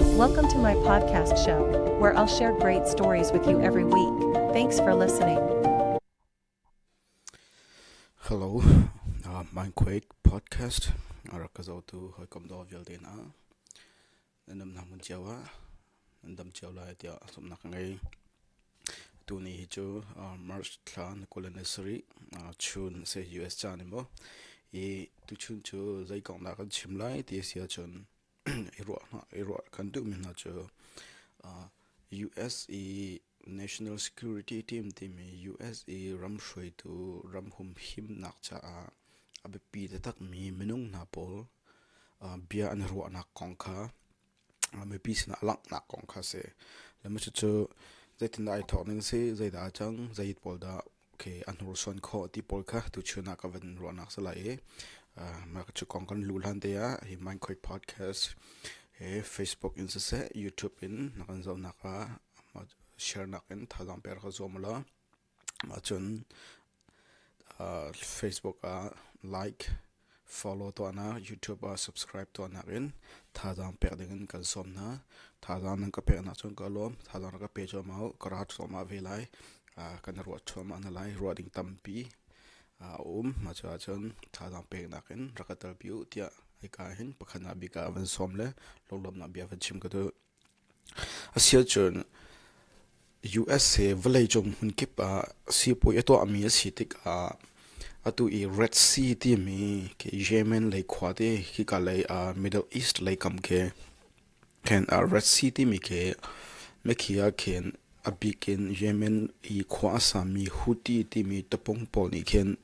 Welcome to my podcast show, where I'll share great stories with you every week. Thanks for listening. Hello, uh, mein Quake podcast arak ka zo tu hoi kom do vial de na anam na mun chiawa andam chiaw lai tia som na ka ngai tu ni hi chu uh, March thla na culinary uh, chun se US cha ni mo i tu chun chu zai kong na kan chim lai ti sia chun i ruah hna i ruah kan duhmi hna cu US i National Security Team timi US i ram hruaitu ram humhimnak caah a biapi taktakmi minung hna pawl bia an ruahnak kong kha mipi sinah langhnak kong kha a si. Le cucu zeitindah ai thawk ning a si, zeidah a cang, zei pawl dah Okay, a hnursuan khawh ti pawl kha tuchun ah ka van ruahnak si lai i mah cu kong kan lu hlan te ah hi Minecraft podcast he Facebook in siseh YouTube in na kan zohnak ah mah sharenak in thazaang pek ka zuam law mah cun Facebook ah like Follow tuahnak YouTube ah subscribe tuahnak in thazaang pek dingin kan sawm hna. Thazaang nan ka peknak cun ka lawm. Thazaang na ka pe cuahmah ka ra cuahmah ve lai. kan i ruah cuahmah hna lai. Ruah ding tampi a um. Mah cu ahcun thazaang peknak in rak ka telpi u tiah hika hin pakhat nak bik ah van sawm le lunglawmnak bia van chim ka duh. Asicun USA vawleicung hmunkip ah sipuai a tuahmi a si tikah atu i Red Sea timi khi Yemen lei khua te hika lei ah Middle East lei kam khi khin Red Sea timi khi mikhi ah khin A bik in Yemen i khua a sami Houthi timi tapung pawl nih khin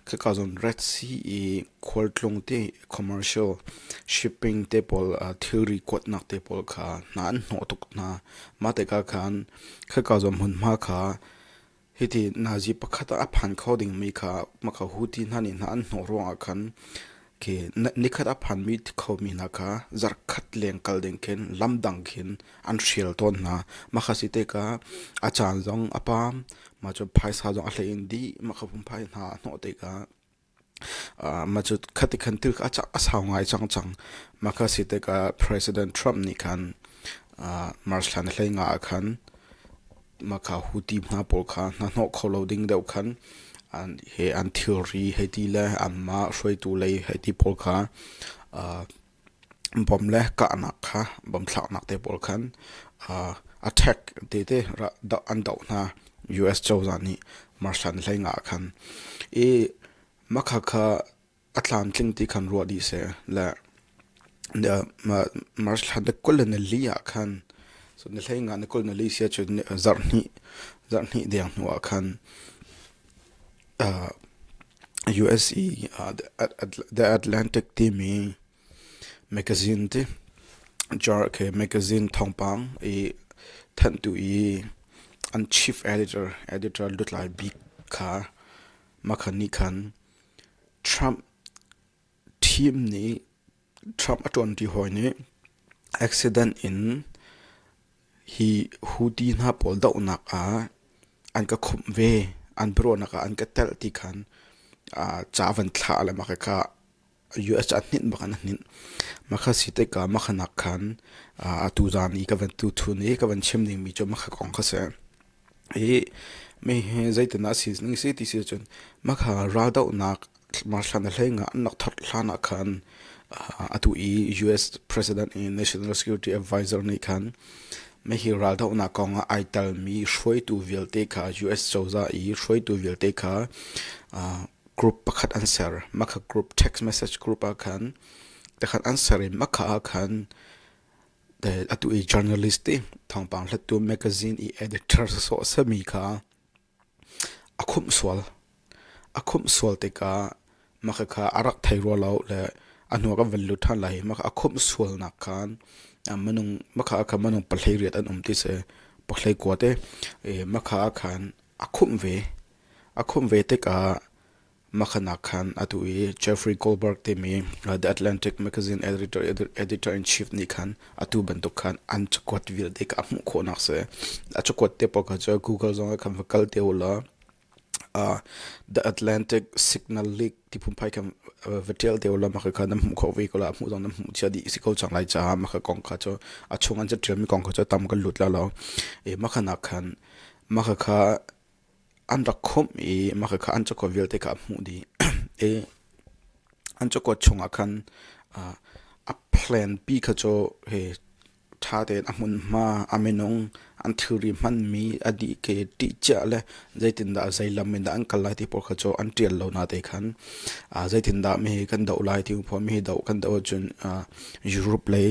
khaka zon Red Sea i khualtlung te commercial shipping te pawl thilri kuatnak te pawl kha hna an hnawh tuk hna. Mah te ka khan khaka zon hmunhma kha hiti nazi pakhat ah a phan kho dingmi kha maka Houthi hna nih hna an hnawh ruangah khan Nikhat a phanmi khomi hna kha zarhkhat leng kal ding khin lam dang khin an hrial tawn hna. Makha si teka a caan zong a pam, ma cu phaisa zong a hlei in di, makha pum phai hna a hnawh teka. ma cu khati khan thil a sau ngai cang cang. Makha si teka President Trump nih khan March thlan hlei nga ah khan Mahka huti hna pawl kha hna hnawh kho lo ding deuh khan an he an thilri hei ti le anmah hruaitu lei hei ti pawl kha uh, bom le kahnak kha bom thlaknak te pawl khan uh, attack te te an doh hna US cozah nih marshan hlei nga khan i makha kha a tlamtling ti khan ruah dih seh le marshal na kul le na li ah khan so na hlei nga na kul na li sia cu zarh hnih zarh hnih deng hnu ah khan USA The Atlantic timi magazine ti jar ke magazine thongpang i thantu i an chief editor editor lutlai bik kha makhani khan Trump team nih Trump a ṭuanṭi hawi nih accident in hi Houthi hna pawl dohnak ah an ka khumh ve, an biaruahnak ah an ka telh ti khan ca van thlah le mah khi ka U S a hninh bak in a hninh. Makha si teika makha nak khan atu zan i ka van tu thun i ka van chim ding mi cu makha kong kha si. I me hi zeitin a si ning si ti si cun makha raldoh nak marthlan a hlei nga an nak thar hlan ah khan atu i US President i National Security Advisor nih khan me hi raldoh nak kong ah ai tel mi hruaitu vialte kha US cozah i hruaitu vialte kha group pakhat an ser. Maka group text message group ah khan takhat an ser i maka ah khan atu i journalist ti thawngpang hlattu magazine i editor so sami kha a khum sual a khum sual tikah maka kha arak thei rua lo le a hnuah kan van lut than lai maka a khum sual nak khan manung maka kha manung pahlei riat an um ti se pohlei kuat e maka khan a khum ve A khumh ve tikah makhanak khan atu i Jeffrey Goldberg timi The Atlantic Magazine editor-in-chief nih khan atu bantuk khan an cakuat vialte kha a hmuh khawhnak a si. A cakuat te paoh kha cu Google zong ah khan va kal te u law uh, The Atlantic Signal Leak ti phunphai khan va ṭial te u law maka kha nan hmuh khawh ve ko la a hmuh zong nan hmuh chia dih si ko cang lai caah maka kong kha cu a chung an ca ṭialmi kong kha cu tam kan lut la lo i maka nak khan maka kha an rak khumh i makakha an cakuat vialte kha a hmuh dih i an cakuat chungah khan uh, a plan p kha cu he ṭha tein a hmunhma a minung an thilri hmanmi a dih ke ṭihciah le zeitindah zeilam in dah an kal lai ti pawl kha cu an ṭial lo na te khan uh, zeitindah mi hi kan doh lai ti pho mi hi doh kan doh ahcun uh, Europe lei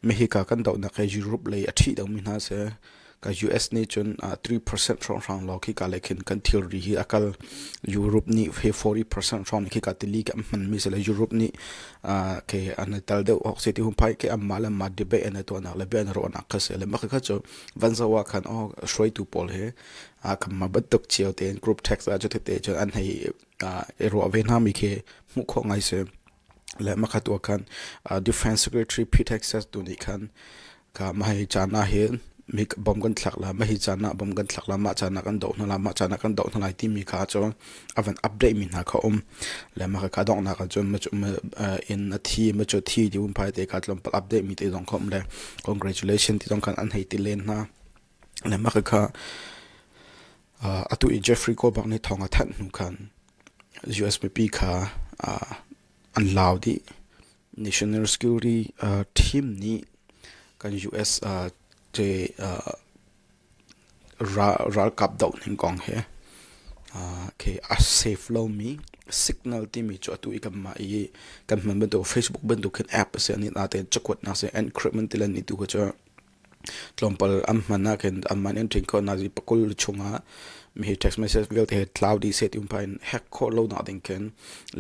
mi hi ka kan dohnak hi Europe lei a ṭhih lomi hna seh Ka US nih cun uh, 3% hrawnghrang law khi ka lei khin kan thilri hi a kal Europe nih he 40% hrawng khi ka tili ke hman mi se le Europe nih uh, ke an tal deuh ok se ti hun pai ke amma le ma debate an to nak le be an ro nak kha se le mak kha chu van zawa khan o shroitu pawl he a kam ma bat tuk chiao te group tax a chu te te chu an hei ro ve na mi ke mu kho ngai se le makhat ua khan uh, defense secretary pete hexes tu nih khan ka mahai chana hi mi bom kan thlak la mahi chana bom kan thlak la ma chana kan do hna la ma chana kan do hna lai ti mi kha chu avan update mi hna kha um le ma ka dong na ka chun ma chu in a thi ma chu thi di um pai te ka tlom pal update mi te dong khom le congratulations ti dong khan an hei ti len na le ma ka kha atu i Jeffrey ko bak ni thonga than nu khan US mipi kha an hlau dih. National security team nih kan US ralkap doh ning kong he a save lomi signal timi cu atu i kanmah i kan hman bantuk Facebook bantuk hin app a si a ni natein cakuatnak si encrypment tilan ni tu kha cu Tlawmpal an hman ahkhin an man in ṭhin khawh hna i pakul chungah mihi text message vialte he tlau dih seh ti um phain hack khawh lonak ding khin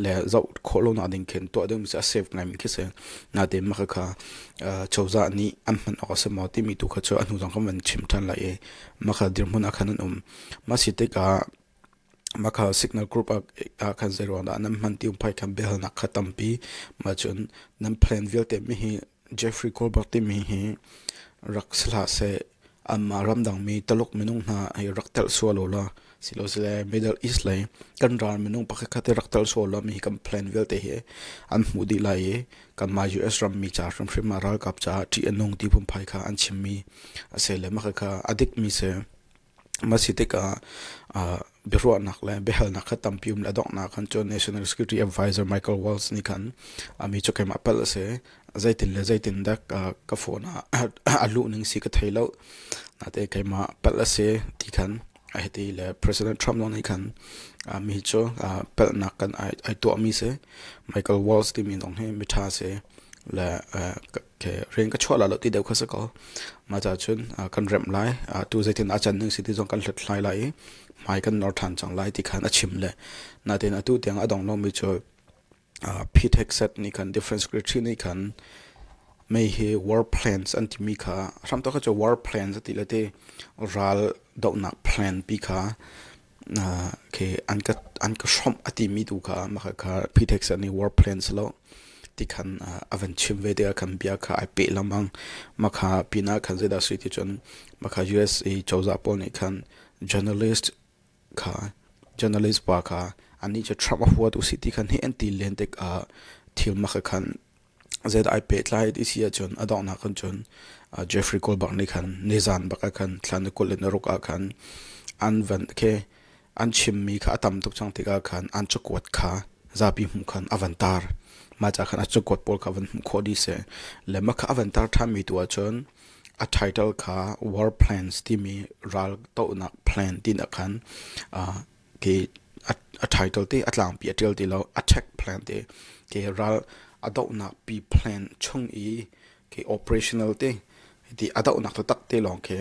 le zoh khawh lonak ding khin tuah ding a save ngaimi khi si. Natein mah khakha uh, cozah nih an hman awk a si maw timi tu kha cu a hnu zong khan van chim ṭhan lai i mah kha dirhmun ah khan an um. Mah si tikah Makha signal group ah khan zei ruang dah nan hman ti um phai khan biahalnak kha tampi. Mah cun nan plan vialte mi hi Jeffrey Colbert timi hi rak si hlah seh anmah ramdangmi Taluk minung hna hi rak telh sual u law silosile Middle East lei kan ral minung pakhatkhat i rak telh sual law mi hi kan plan vialte hi an hmuh dih lai i kanmah US rammi ca hrimhrim ah ralkap caah ṭih a nung ti pumphai kha an chimmi a si le makha kha a dikmi si. Masi tikah uh, biaruahnak le biahalnak kha tampi um le donghnak kan cu National Security Advisor Michael Walls nih khan ami cu keimah pal a si zeitin le zeitin dak uh, ka phone ah a luh ning si ka thei lo nate keimah pal a si ti khan a hiti le President Trump lawng nih khan mi cu palnak kan ai tuahmi si Michael Walls timi dong hi mitha si le Okay, ring ka chuah la lo ti deu kha sa ko. Ma cha chun kan rem lai tu zeitin a chan ning si ti zong kan hlut hlai lai i mai kan nor than chang lai ti khan a chim le na tin atu tiang a dong lo mi chu ptech set ni khan different secretary ni khan mei hi war plans an ti mi kha ram to kha chu war plans ati le ti ral do nak plan pi kha an ka hrawmh a timi tu kha mah kha physics ah ni war plans lo ti khan a van chim ve te ah khan bia kha ai peh lengmang mah kha pinah khan zeidah si ti cun mah kha USA cozah pawl nih khan journalist kha journalist pa kha anih cu Trump a huat u si ti khan hi an ti len tik ah thil mah kha khan Zeidah ai pehtlai ti si ahcun a donghnak kan cun Jeffrey Goldberg nih khan nizan bak ah khan thlan i kul in a ruk ah khan an van khi an chimmi kha a tam tuk cang tikah khan an cakuat kha zapi hmuh khan a van tar. Mah ca khan a cakuat pawl kha van hmuh khawh dih si. Le mah kha a van tar ṭhanmi tu ahcun a title kha War Plans timi ral tohnak plan tinak khan ke a title te a tlangpi a tial ti lo a tech plan te ke ral a dohnak pi plan chung i ke operational te ti a dohnak tak te lawng ke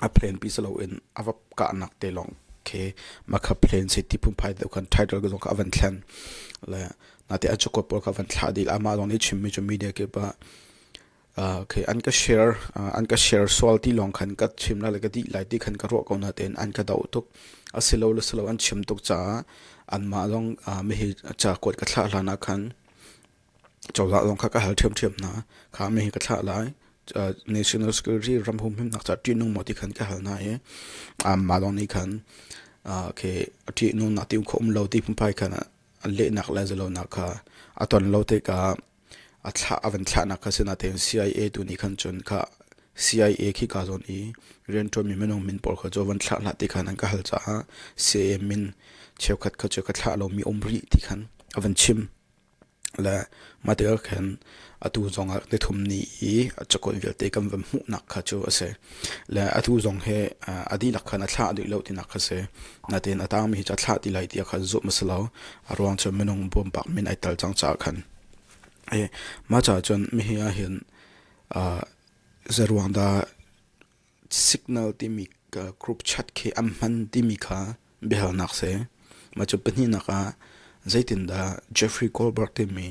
a plan pi salo in a va kahnak te lawng ke makha plan se ti pum phai deu kan title ko ka van thlen le na te a chukot pol ka van thla dil ama lawng ni chimmi chu media ke ba Okay, an ka share an ka share sual ti lawng khan ka chim la le ka dih lai ti khan ka ruah ko na tein an ka doh tuk a si lo le si lo an chim tuk caah an mah zong mi hi ca kuat ka thlah hlan ah khan cozah zong kha ka hal ṭhiam ṭhiam hna kha mi hi ka thlah lai national security ram hum him nak ca ṭih nung mo ti khan ka hal hna i mah zong nih khan okay ṭih nung nak ti um kho um lo ti phunphai khan lehnak le zalonak kha a ton lo te ka A van thlahnak kha sinatein CIA tu nih khan cun CIA khi kaa zawn i rianṭuanmi minung min pawl kha cu van thlah hlah ti khan an ka hal caah CIA min cheukhat kha cu ka thlah lomi um rih ti khan a van chim. Le mah tikah khan atu zong ah nithum ni i a cakuat vialte kan van hmuhnak kha cu a si. Le atu zong hi a dihnak khan a thlah duh lo tinak kha a si. Natein a taangmi hi cu a thlah ti lai tiah khan zumh a si lo. A ruang cu minung bawmpak min ai tel cang caah khan. I mah caah cun mihi ah hin uh, zeruang dah signal timi uh, group chat khi an hman timi kha biahalnak si. Mah cu pahnihnak ah zeitindah Jeffrey Goldberg timi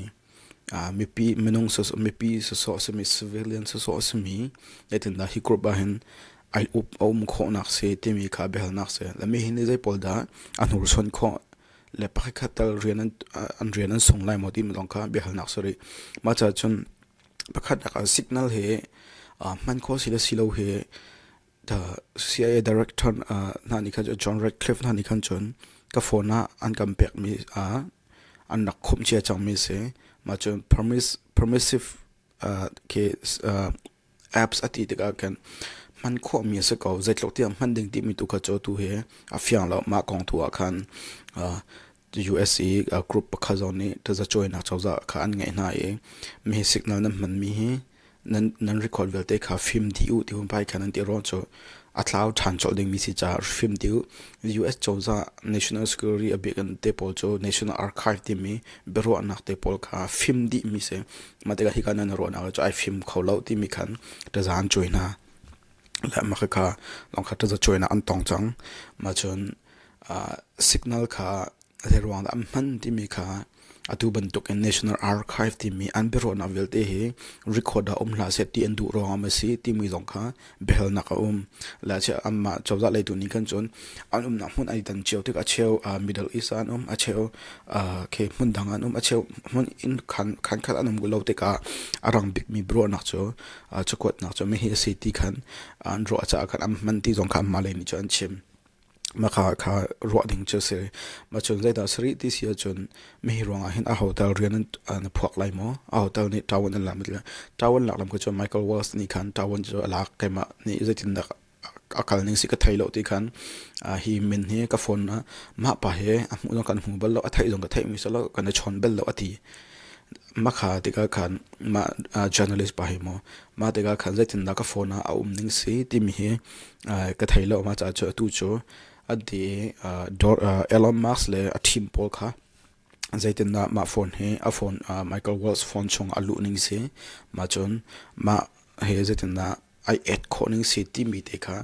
mipi minung mipi sawsawh simi civilian sawsawh simi zeitindah hi group ahhin ai up a um khawhnak si timi kha biahalnak si lami hi nih zei pawl dah a hnursuan khawh le pakhatkhat tal rian an rian an sung lai maw timi lawng kha biahalnak si rih mah caah cun pakhatnak ah signal hi hman khawh si le si lo hi CIA director hna nih khan John Ratcliffe hna nih khan cun ka phone ah an kan pekmi an rak khumh cia cangmi a si. Mah cu permissive apps a ti tikah khan hman khawhmi a si ko. Zeitluk tiang hman ding timi tu kha cu tu hi a fiang lo. Mah kong tu ah khan US i group pakhat zong nih tazacuainak cozah kha an ngeih hna i mi hi signal nan hmanmi hi nan record vialte kha fim dih u tihu vai khan an ti ro cu a tlau ṭhan cawlh dingmi si caah fim dih u US cozah National Security a bik te pawl cu National Archive timi biaruahnak te pawl kha fim dihmi si mah tikah hika nan ruahnak cu ai fim kho lo timi khan tazaan cui hna le mah kha longkha taza cuainak an tong cang mah cun signal kha Zeiruang dah an hman timi kha atu bantukin National Archive timi an biaruahnak vialte hi record ah um hlah seh ti an duh ruangah maw si timi zong kha biahalnak a um. Lachia anmah cozah leitu nih khan cun an umnak hmun ai tan cio tik a cheu uh, Middle East an um a cheu uh, khi hmun dang an um a cheu hmun in khan khan khat an um lo tikah a rang bikmi biaruahnak cu uh, cakuatnak cu mi hi a si ti khan an ruah caah khan an hman ti zong kha anmah lei nih cun an chim. Maka kha ruah ding cu a si. Mah cun zeidah a si rih ti si ahcun mihi ruangah hin a hotel rian na phuak lai maw? A hotel nih ṭaun an lak maw? Ṭaun lak lam cu cun Michael Walsh nih khan ṭaun cu a lak. Keimah nih zeitindah a kal ning si ka thei lo ti khan hi min hi ka phone ah mah pa he a hmuh zong kan hmu bal lo, a theih zong ka theih mi si lo, kan i chawn bal lo a ti. Makha tikah khan mah uh, journalist pa hi maw mah tikah khan zeitindah ka phone ah a um ning si timi hi uh, ka thei lo ma ca cu tu cu a di uh, Dor, uh, Elon Musk le a team pawl kha zeitindah mah phone hi a phone uh, Michael Wells phone chung a luh ning si ma cun mah he zeitindah ai et khawh ning si timi te kha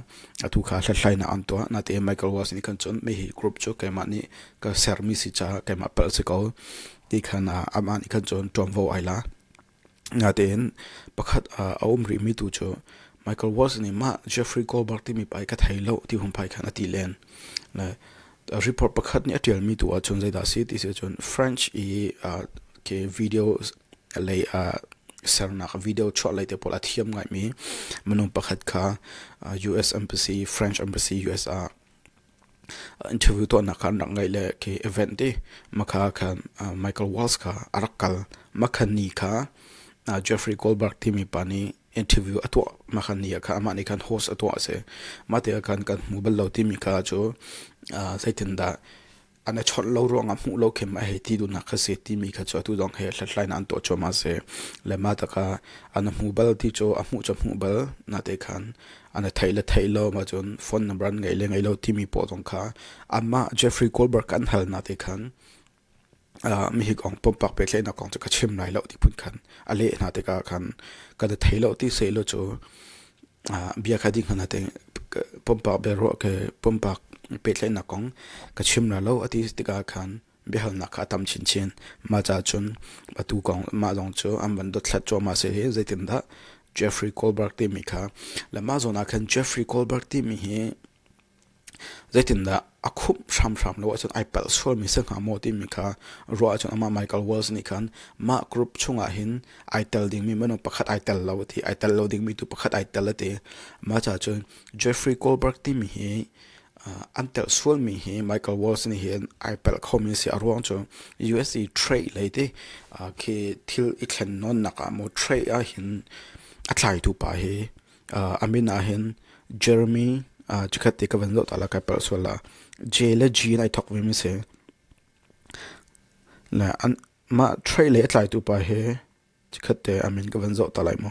atu kha hlathlainak an tuah natein microwave nih kan cuanh mi hi group cu keimah nih ka sermi si caah keimah palh si ko ti khan amah nih khan cun ṭuanvo ai la natein pakhat a um rih mi tu cu microwave nih mah Jeffrey Goldberg timi pa i ka thei lo ti hung pai khan a ti len le Report pakhat nih a ṭialmi tu ahcun zeidah a si ti si ahcun French i ke video lei sernak video chuah lei te pawl a thiam ngaimi minung pakhat kha US embassy, French embassy US ah interview tuahnak kha an rak ngaih le ke event i makha khan Michael Walls kha a rak kal. Makha ni kha Jeffrey Goldberg timi pa nih interview a tuah ma khan ni kha amah nih khan host a tuah a si mah te khan kan hmu bal lo timi kha cu zeitin dah an i chawt lo ruang ah hmuh lo khem a hei ti dunak kha si timi kha cu atu dong he hlathlai na an tuah chua ma se le ma ta kha an hmu bal ti cu a hmuh cu hmuh bal na te khan an thei le thei lo ma cun phone number an ngei le ngei lo timi po zong kha amma Jeffrey Goldberg kan hal na te khan mi hi kong pumpak pehtlaihnak kong cu ka chim lai lo ti phun khan a leh hna tikah khan kan i thei lo ti sehlaw cu bia kha ding hmana te pumpak bia ruah ke pumpak pehtlaihnak kong ka chim la lo ati tikah khan biahalnak kha a tam chinchin ma cha chun atu kong ma zong cu an van dotthlat chuah ma se hi zeitindah Jeffrey Goldberg timi kha le ma zon ah khan Jeffrey Goldberg timi hi Zeitindah a khumh hramhram lo ahcun ai palh sualmi si hnga maw timi kha ruah ahcun amah Michael Walls nih khan mah group chungah hin ai tel dingmi minung pakhat ai tel lo a ti. Ai tel lo dingmi tu pakhat ai tel a ti. Mah caah cun Jeffrey Goldberg timi hi uh, an tel sualmi hi Michael Walls nih hin ai pelh khomi a si. A ruang cu USA trade lei ti uh, khi thil i thlen nawnnak ah maw trade ah hin a tlaitu pa hi a min ah hin Jeremy chikhat te ka van zoh ta la kai palh sual la J le G nai thok ve mi si le an mah trai le tlaitu pa hi chikhat te amin ka van zoh ta lai mu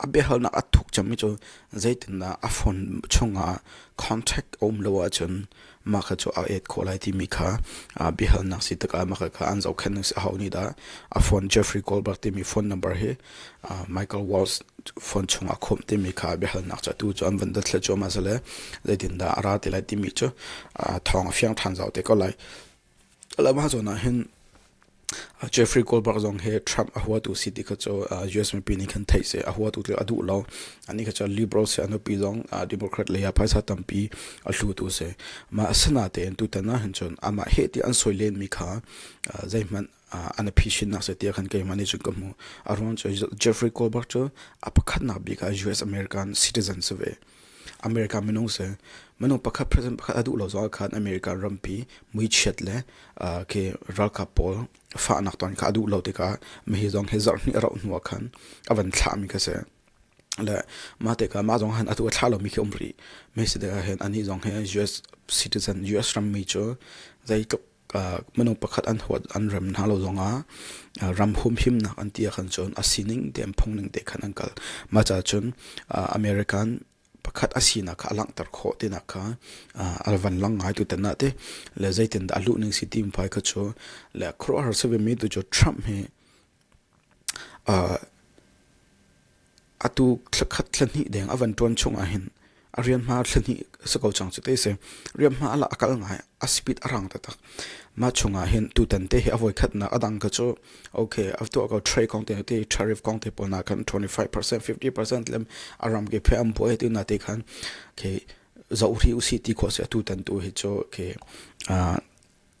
A biahalnak a thuk cangmi cu zeitindah a phone chungah contract a um lo ahcun mah kha cu a et khawh lai timi kha aa biahalnak si tikah mah kha an zohkhenh a hau nih dah a phone Jeffrey Goldberg timi phone number hi uh, Michael Walsh phone chungah khawmh timi kha a biahalnak cu atu cu an van datthla cuahmah zale zeitindah a ra ti lai timi cu uh, thawng a fiang than zau te ko lai A lam ahcun ah hin Jeffrey Goldberg zong hi Trump a huatu si ti kha cu US mipi nih khan theih si. A huatu cu a duh lo. Anih kha cu Liberal si a nupi zong Democrat lei ah phaisa tampi a hlutu si. Mah asinatein tutan ah hin cun amah heh ti an sawi lenmi kha zeihmanh an a phi shin nak se tia khan keima ni chun ka mu a ruan chu Jeffrey Goldberg chu a pakhat na bi ka US American citizen se ve America minung se manung pakhat president pakhat adu lo zo khan America rampi mui chiat le ke ralka pawl fa nak ton ka adu lo te ka me hi zong he zar ni rau nuwa khan avan thla mi ka se le ma te ka ma zong han atu thla lo mi ke umri me se de hen ani zong he US citizen US ram mi chu zai tuk minung pakhat an huat an rem hna lo zongah ram humhimnak an ti ahkhan cun a sining te an phungning te khan an kal mah caah cun American pakhat a sinak kha a langhter khawh tinak kha a van lang ngai tu tan te le zeitin dah a luh ning si ti mi pai kha cu le khuaruahhar si ve mi tu cu Trump hi Atu thlakhat thlahnih deng a van ṭuan chung ahhin a hriamhma thlahnih a si ko cang cu ti a si. Hriamhma a lah a kal ngai, a speed a rang taktak. Mah chung ahhin tutan te hi a voikhatnak a dang kha cu okay a tuah ko tray kong te ti tariff kong te pawl nak khan twenty-five percent, fifty percent le a ram ke phe an buai ti na te khan okay zoh rih usih ti khawh a si. Atutan tu hi cu okay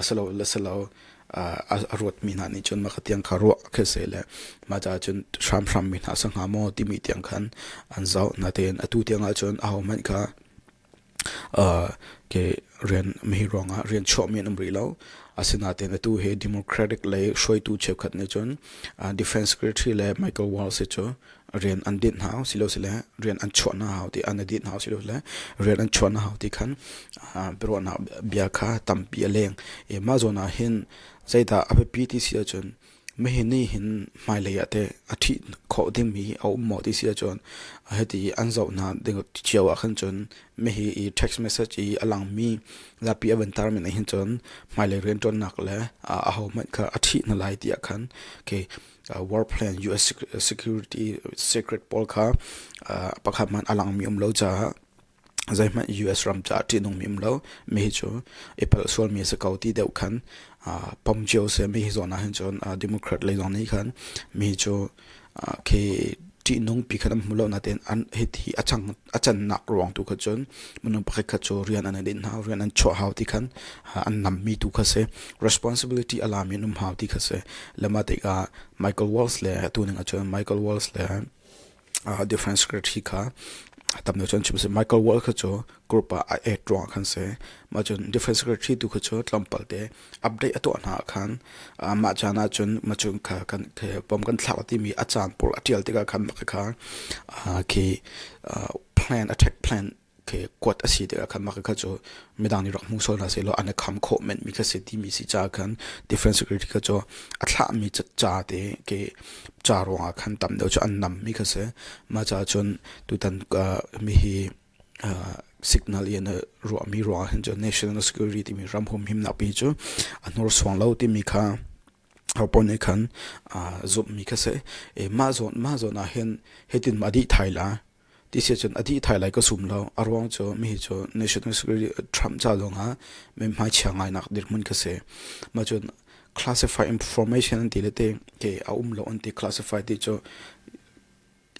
asilo a ruatmi hna nih cun mah tiang kha ruah khi se le mah caah cun hramhram mi hna sa hnga maw timi tiang khan an zoh natein atu tiang ah cun aho hmanh kha ke rian mihi ruangah rian chuahmi an um rih lo asinatein atu hi democratic lei hruaitu cheukhat nih cun defense secretary le michael walls hi cu rian an dinh hna hau silosile rian an chuah hna hau ti an i dinh hau silosile rian an chuah hna hau ti khan biaruahnak bia kha tampi a leng i mah zawn ah hin zeidah a biapi ti si ahcun mahi nih hin hmailei ah teh a ṭhih khawh dingmi a um maw ti si ahcun hiti an zoh hna ding cio ah khan cun mahi i text message i a langmi zapi a van tarmin ahhin cun hmailei rianṭuannak le a hohmanh kha a ṭhih hna lai tiah khan okay war plan US security secret pawl kha pakhat hmanh a langmi um lo caah zeihmanh US ram caah ṭihnungmi um lo mi hi cu i palh sualmi a si ko ti deuh khan pom cio se mi hi zawn ah hin cun democrat lei zong nih khan mi hi cu khi ṭihnung pi khat an hmu lo natein an hithi a chang a cannak ruang tu kha cun minung pakhat khat cu rian an din hna rian an chuah hau ti khan an nammi tu kha si responsibility a lami an um hau ti kha si le mah tikah Michael Walls le tu ning ah cun Michael Walls le different secretary kha tam lo cun chim si Michael Wall kha cu group ah a act ruang khan si ma cun different secretary tu kha cu tlampal te update a tuah hna ah khan mah caan ah cun macung kha kan bom kan thlak a timi a caan pur a ṭial tikah khan mah kha khi plan attack plan khi kuat a si tikah khan mah kha cu midang nih rak hmu sual hna selaw an i kham khawh menmi kha si timi si caah khan defense security kha cu a thlahmi ca te ke ca ruangah khan tam deuh cu an nammi kha si mah caah cun tutan mi hi signal in ruahmi ruang ah hin cu national security timi ram hum himnak pi cu a hnursuang lo timi kha hopon nih khan zumh mi kha si mah zawn mah zawn ah hin hitin ma dih thai la ti si cun a dih thai lai ka sum lo a ruang cu mi hi cu national security trump ca lawng ah me hmai chia ngai nak dirhmun ka si ma cun classified information an ti le te ke a um lo an ti classified ti cu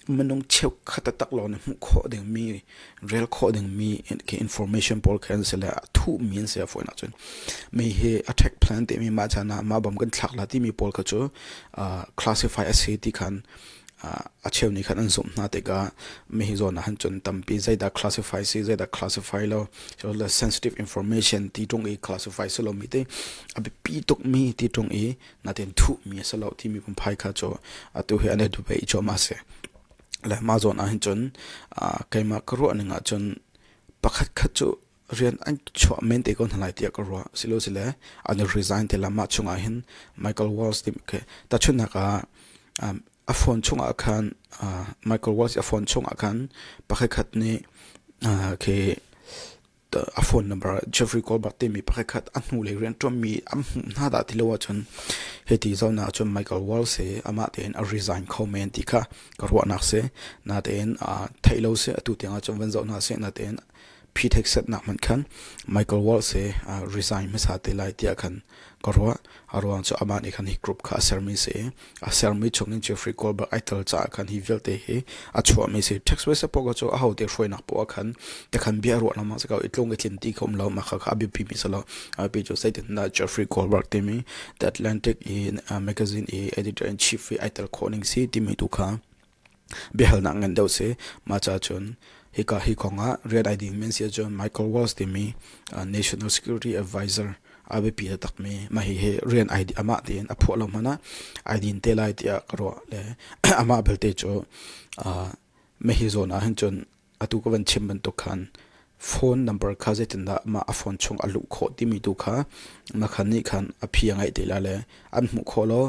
minung cheukhat atak lawng na hmuh khawh dingmi rel khawh dingmi information pawl kha an si le a thuhmi an si a fawinak cun mi hi attack plan timi mah chan ah mah bam kan thlak la timi pawl kha cu classify a si ti khan a cheu nih khan an zumh hna tikah mi hi zawn ah han cun tampi zeidah classify si zeidah classify lo sensitive information ti tung i classify si lo mi te a biapi tukmi ti tung i natin thuhmi a si lo timi pumphai kha cu atu hi an i dupe i cawm a si le mah zawn ah hin cun keimah ka ruah ning ah cun pakhat khat cu rian an chuah men te ko hna lai tiah ka ruah silo sile an i resign te la mah chung ah hin Michael Walls ti ke ta chunak ah a phone chung ah khan Michael Walls a phone chung ah khan pakhat khat nih ke a phone number Jeffrey Colbert timi pakhat a hnulei rianṭuanmi an hmuh hna dah ti lo ahcun hiti zawn ahcun Michael Walsh hi amah tein a resign kho men ti kha ka ruahnak si. Natein theih lo si atu tiang ahcun van zoh hna sih natein phi theksetnak hmanh khan Michael Walsh hi resign hmasa te lai tiah khan ka ruah. A ruang cu amah nih khan hi group kha a sermi si i a sermi chungin Jeffrey Goldberg ai tel caah khan hi vialte hi a chuahmi si. Text message poka cu aho te hruainak poah khan te khan bia ruah lawmah si ko i tlung i tlin ti kha um lo ma kha kha a biapimi si lo. A pi cu zeitindah Jeffrey Goldberg timi The Atlantic i uh, magazine i editor in chief i ai tel khawh ning si timi tu kha biahalnak ngan deuh si. Mahca cun hika hi kong ah rian ai ding men si ahcun Michael Waltz timi uh, National Security Advisor a biapi takmi ma hi hi rian ai amah tein a phuah lo hmana ai din te lai tiah ka ruah le amah belte cu uh, me hi zawn ah hin cun Atu ka van chim bantuk khan phone number kha zeitindah mah a phone chung a luh khawh timi tu kha makhan nih khan a phi a ngaih te la le an hmuh khawh lo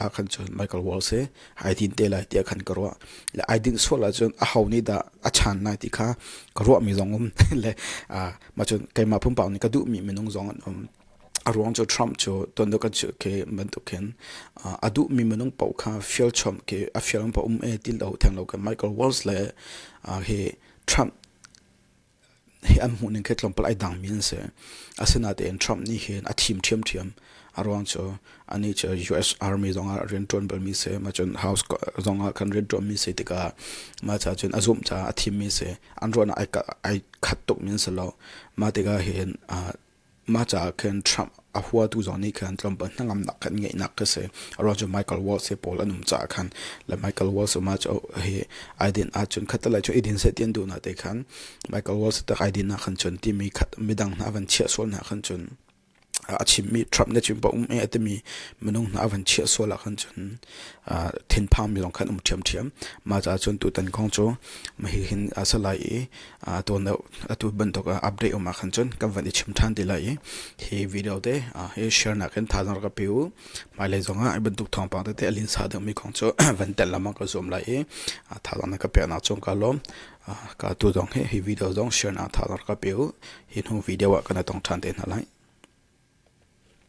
a khan cu Michael Wall si hai din te lai tiah khan ka ruah le ai din sual ah cun a ho nih dah a chan lai ti kha ka ruah mi zong um le ma cun keimah pumpak nih ka duh mi minung zong an um A ruang cu Trump cu tonnak kan chimh khi bantuk hin a duhmi minung paoh kha fial chom khi a fial in pa um e ti lo theng lo kan Michael Walls le hi Trump hi an hmuh ning khi tlawm pal ai dang mi an si asinain Trump nih hin a thim ṭhiam ṭhiam a ruang cu anih cu US army zong ah rian ṭuan balmi si ma cun house zong ah kan rian ṭuanmi si tikah ma ca cun a zumh caah a thimmi si an ruahnak ai khat tuk mi an si lo mah tikah hin Mah caah khin Trump a huatu zong nih khan tlawmpal hnangamnak khan ngeihnak ka si. Aro cu Michael Waltz he pawl an um caah khan le Michael Waltz mah cu hi ai din ahcun khatalai cu idin seh tian duhnak te khan Michael Waltz tak ai din ahkhan cun timi khat midang hna van chiah sual hna ahkhan cun a chimmi Trump ne cun pa um e a timi minung hna van chiah sual ahkhan cun thinphang mi zong khan um ṭhiamṭhiam mah caah cun tutan kong cu ma hi hin a salai i tuan atu bantuk update um ahkhan cun kan van i chim ṭhan ti lai i hi video te hi share nakin thazaang rak ka pe u hmailei zongah bantuk thawngpang tete alin sa dangmi kong cu van tel lamang ka zoom lai i thazaang na ka peknak cung ka lawm ka tu zong hi hi video zong share na thazaang rak ka pe u hi hnu video ah kana tong ṭhan te hna lai